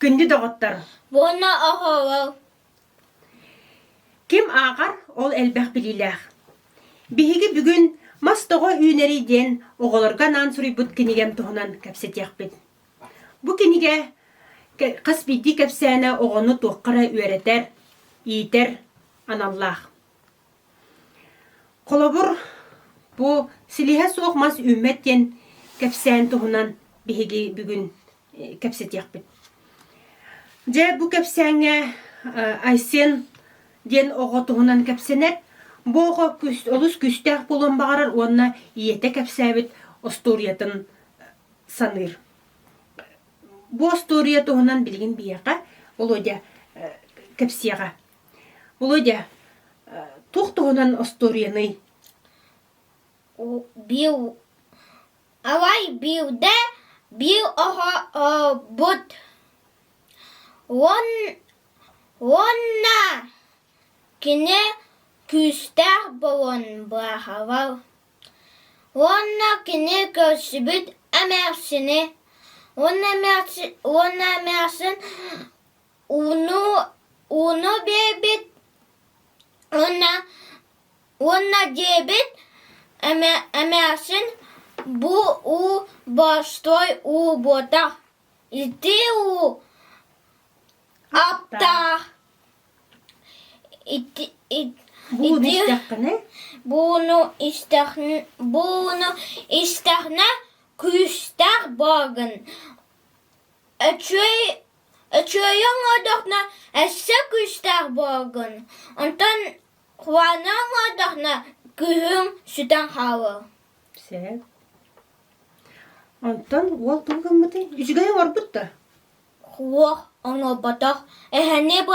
Күндү доҕоттор! Уонна оһоҕол. Ким ааҕар, ол элбэх билиилээх. Биһиги бүгүн Мас тоҕо үүнэрий диэн оҕолорго анаан суруйбут кинигэм туһунан кэпсэтиэхпит. Бу кинигэ хас биирдии кэпсээнэ оҕону туохха эрэ үөрэтэр, иитэр аналлаах. Холобур, бу силиһэ суох мас үүммэт диэн кэпсээн туһунан биһиги бүгүн кэпсэтиэхпит. Дьэ, бу кэпсээҥҥэ Айсен диэн оҕо туһунан кэпсэнэр. Бу оҕо олус күүстээх буолуон баҕарар уонна ийэтэ кэпсээбит остуоруйатын саныыр. Бу остуоруйа туһунан билигин биһиэхэ Володя кэпсиэҕэ. Володя, туох туһунан остуоруйаный? Бил авай биирдэ биир оһообут уонна кини күүстээх буолан бааһабал уонна кини көрсүбүт эмээхсини уонна эмээхсин Ууну ууну биэрбит уонна уонна диэбит эмээхсин бу уу борстой уу буотах ити уу аптаах ити бууну истэхнэ күүстээх бааргын Өчүөйэ оҥордоххуна өссө күүстээх буолуҥ, онтон куһаҕаны оҥордоххуна кыыһыҥ сүтэн хаалыа сөп. Онтон уол тугу гыммытый? Үчүгэй оҥорбут да? Уол оҥорботох, эһэни бу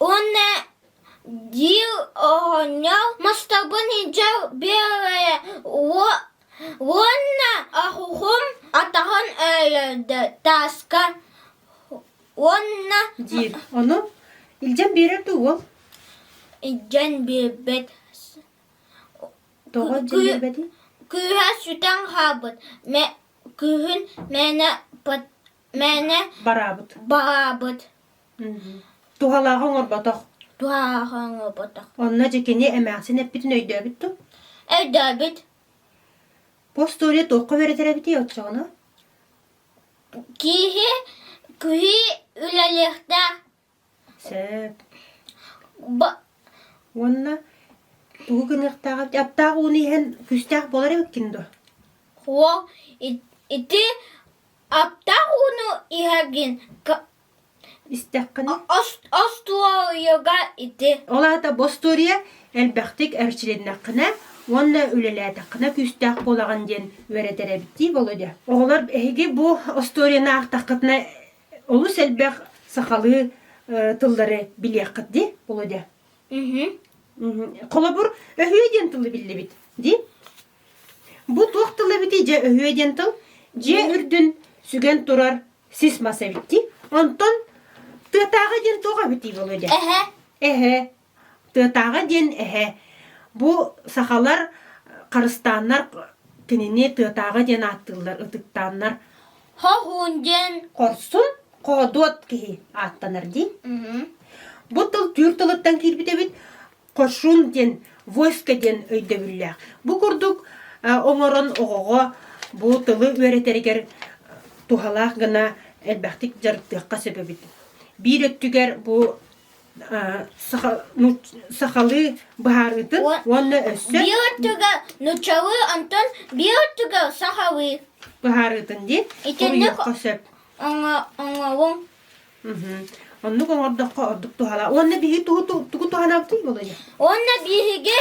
Уонна Дьиил оонньоол мастарбын иһдьэ биэрэрэ уонна аһуһум атаҕын эрэйдэ тааска уонна диир ону илдьэн биэрэр дуу уол илдьэн биэрбэт тоҕо илдьэн биэрбэтий кыыһа сүтэн хаалбыт кыыһын мээнэ мээнэ бараабыт Туһалааҕы оҥорботох. Туһалааҕы оҥорботох. Онно дьэ кини эмээхсин эппитин өйдөөбүт ту? Өйдөөбүт. Бу остуоруйа туохха үөрэтэр эбитий оччоҕуна? Киһи киһи үлэлиэхтээх. Сөп. Уонна тугу гыныахтаах эбит? Аптаах ууну иһэн күүстээх буолар эбиккин дуо? Уол ити аптаах ууну иһэргин Истэххинэ, Остуоруйуга ити ол аата бостуоруйа элбэхтик эрчилиннэххинэ уонна үлэлээтэххинэ күүстээх буолаҕын диэн үөрэтэр эбиттии Володя. Оҕолор эһиги бу остуоруйаны аахтаххытына олус элбэх сахалыы э, тыллары билиэххит ди Володя. Холобур, өһүө диэн тылы биллибит ди. Бу туох тыл эбитий? Дьэ өһүө диэн тыл. Дьиэ үрдүн сүгэн турар сис мас эбитти. Онтон тыатааҕы диэн туох эбитий буолуо дэ? Эһэ. Эһэ. Тыатааҕы диэн эһэ. Бу сахалар харыстааннар кинини тыатааҕы диэн ааттыыллар, ытыктааннар. Хоһуун диэн хорсун, хоодуот киһи ааттанар дии. Бу тыл түүр тылыттан киирбит эбит. хошун диэн войско диэн өйдөбүллээх. Бу курдук оҥорон оҕоҕо бу тылы үөрэтэригэр туһалаах гына элбэхтик дьарыктыахха сөп эбит. Биир өттүгэр бу ну, сахалыы быһаарыытын уонна өссө биир өттүгэ нучалыы онтон биир өттүгэ сахалыы быһаарыытын диэн итинник оҥоҕун Оннук оҥордоххо ордук туһалаах. Уонна биһи тугу тугу туһанаабытый Володя? Уонна биһиги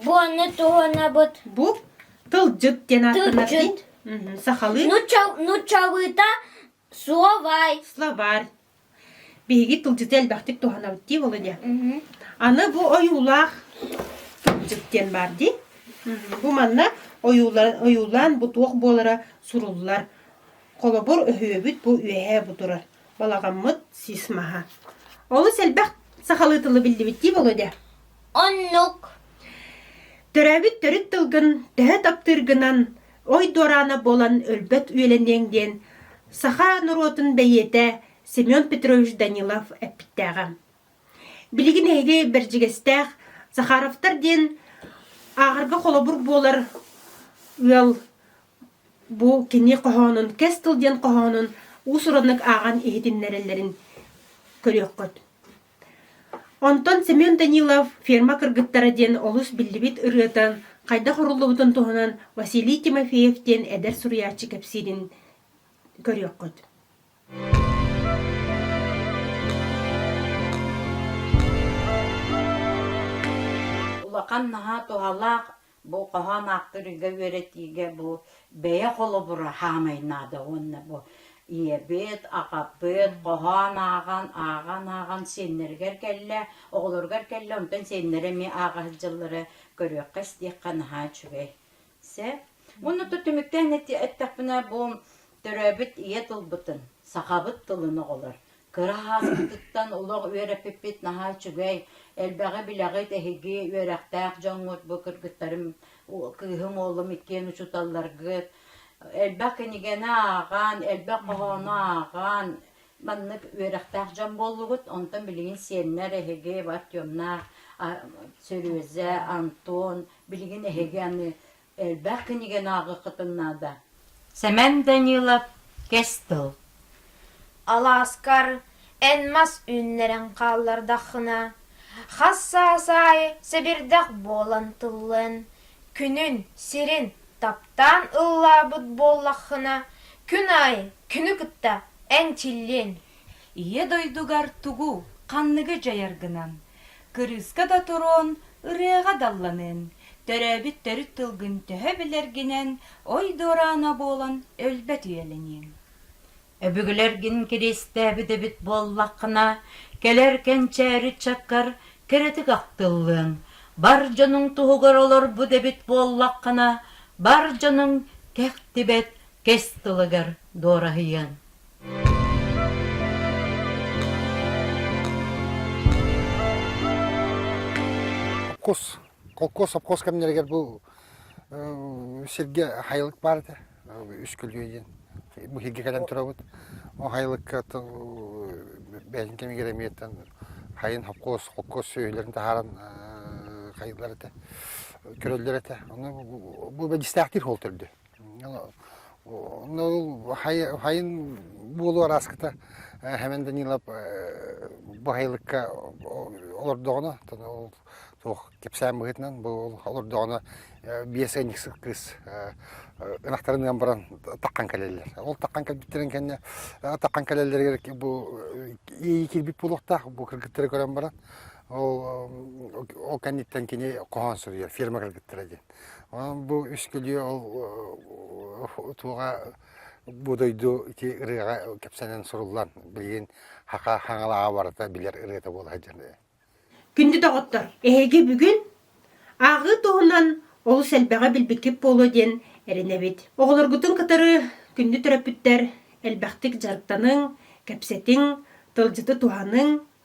буонну туһанабыт. Бу тылдьыт диэн ааттанарбыт. Сахалыы. Нуччалыыта словарь. Словарь. Биһиги тылдьыты элбэхтик туһанабыт дии Володя. Аны бу ойуулаах тылдьыт диэн баар дии. Бу манна ойуулан ойуулаан бу туох буолара суруллар. Холобур, өһүөбүт бу үөһээ бу турар, балаҕаммыт сис маһа. Олус элбэх сахалыы тылы биллибиттии буолуо дэ. Оннук. Төрөөбүт төрүт тылгын төһө таптыыргынан ой дуораана буолан өлбөт үөлэниэҥ диэн саха норуотун бэйиэтэ Семен Петрович Данилов эппиттээҕэ. Билигин эһиги Бэрдьигэстээх Захаровтар диэн ааҕарга холобур буолар ыал Бу кини хоһоонун кэс тыл диэн хоһоонун уус-ураннык ааҕан иһитиннэрэллэрин көрүөххүт. Онтон Семен Данилов «Ферма кыргыттара» диэн олус биллибит ырыата хайдах уруллубутун туһунан Василий Тимофеев диэн эдэр суруйааччы кэпсиирин көрүөххүт. Улахан наһаа туһалаах Бу хоһоон ааптарыга үөрэтиигэ бу бэйэ холобура хаамай наада уонна бу ийэбит, аҕабыт хоһоон ааҕан, ааҕан, ааҕан сиэннэригэр кэллэ, оҕолоругар кэллэ, онтон сиэннэрэ эмиэ ааҕа сылдьаллара көрүөххэ-истиэххэ наһаа үчүгэй. Сөп. Уонна то түмүктээн эттэхпинэ, бу төрөөбүт ийэ тылбытын, сахабыт тылын оҕолор Кыра сааспытыттан олох үөрэппиппит наһаа үчүгэй. Элбэҕи-билэҕит эһиги үөрэхтээх дьоҥҥут бу кыргыттарым, кыыһым, уолум иккиэн учууталларгыт элбэх кинигэни ааҕан, элбэх хоһоону ааҕан, маннык үөрэхтээх дьон буоллугут. Онтон билигин сиэннэр эһиги Артемнаах, Серёза, Антон, билигин эһиги аны Элбэх кинигэни ааҕыаххытын наада. Сэмэн Данилов, Кэс тыл. Алааскар эн мас үүннэрэн хааллардаххына, хас саас аайы сэбирдэх буолан тыллыан, күнүн, сирин таптаан ыллаабыт буоллаххына, күн аайы күнү кытта эн чиллиэн. Ийэ дойдугар тугу, ханныгы дьайаргынан Кырыыска да туруон, ырыаҕа далланыан, төрөөбүт төрүт тылгын төһө билэргинэн ой дуораана буолан өлбөт үйэлэниэҥ. Өбүгэлэргин кириэстээбит эбит буоллаххына, кэлэр кэнчээри ыччаккар кэрэтик ахтыллыаҥ. Бар дьонуҥ туһугар олорбут эбит буоллаххына, бар дьонуҥ кэхтибэт кэс тылыгар дуораһыйыаҥ. Кус, холкуос сопхуос кэмнэригэр бу сиргэ хайылык баар этэ үскүлүө диэн бу иһиргэ кэлэн турабыт ол хайылыкка бэйэтин кэмигэр эмиэттэн хайын холкуос холкуос сүөһүлэрин таһааран хайыылар этэ көрөллөр этэ ону бу бэдьистээхтиир ол төрдө Хайын буолуу арааскыта Хэмэн Данилов бу хайылыкка олордоҕуна, суох кэпсээн быһыытынан бу олордоҕуна биэс ыанньык кыыс ынахтарын ыан баран таххан кэлэллэр. Ол таххан кэлбиттэрин кэннэ таххан кэлэллэригэр бу иэйии кирбит буолуохтаах бу кыргыттары көрөн баран ол ол кэнниттэн кини хоһоон суруйар фирма кыргыттара диэн. Бу үскүлүө ол туоҕа бу дойду ити ырыаҕа кэпсэнэн суруллан билигин Хаха Хаҥалаҕа барыта билэр ырыата буола сылдьар. Күндү доҕоттор, эһиги бүгүн ааҕыы туһунан олус элбэҕи билбиккит буолуо диэн эрэнэбит. Оҕолоргутун кытары күндү төрөппүттэр элбэхтик дьарыктаныҥ, кэпсэтиҥ, тылдьыты туһаныҥ,